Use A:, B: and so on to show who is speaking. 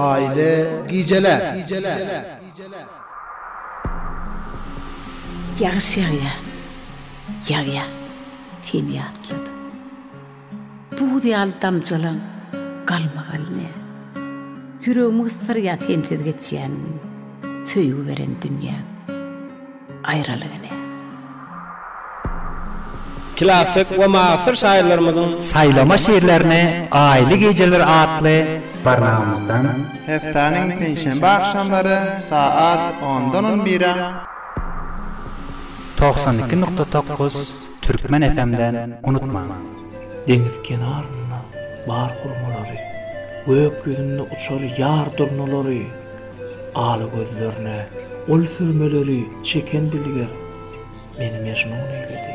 A: Aýly gijeler.
B: Ýagyş ýagýar, ýagýar, seni ýatlady. Buz ýaly damjalaň galmagal ne. Ýüregimi gysdyrýar sensiz geçýän gün. Söýgi beren dünýäň aýralygy ne.
C: Klassyk we mughasyr şahyrlarymyzyň saýlama şirlerini Aýly gijeler atly barlagamyzdan. Heftaniň
D: penşenbe agşamlary saat ondan on bire. Togsan
C: iki nukta tokuz. Türkmen FM den unutmaň. Deňiz
E: kenarynda bar hurmalary, Gök ýüzünde uçar ýar durnalary. Ala gözlerine ol sürmeleri çeken dilger meni mejnun eýledi.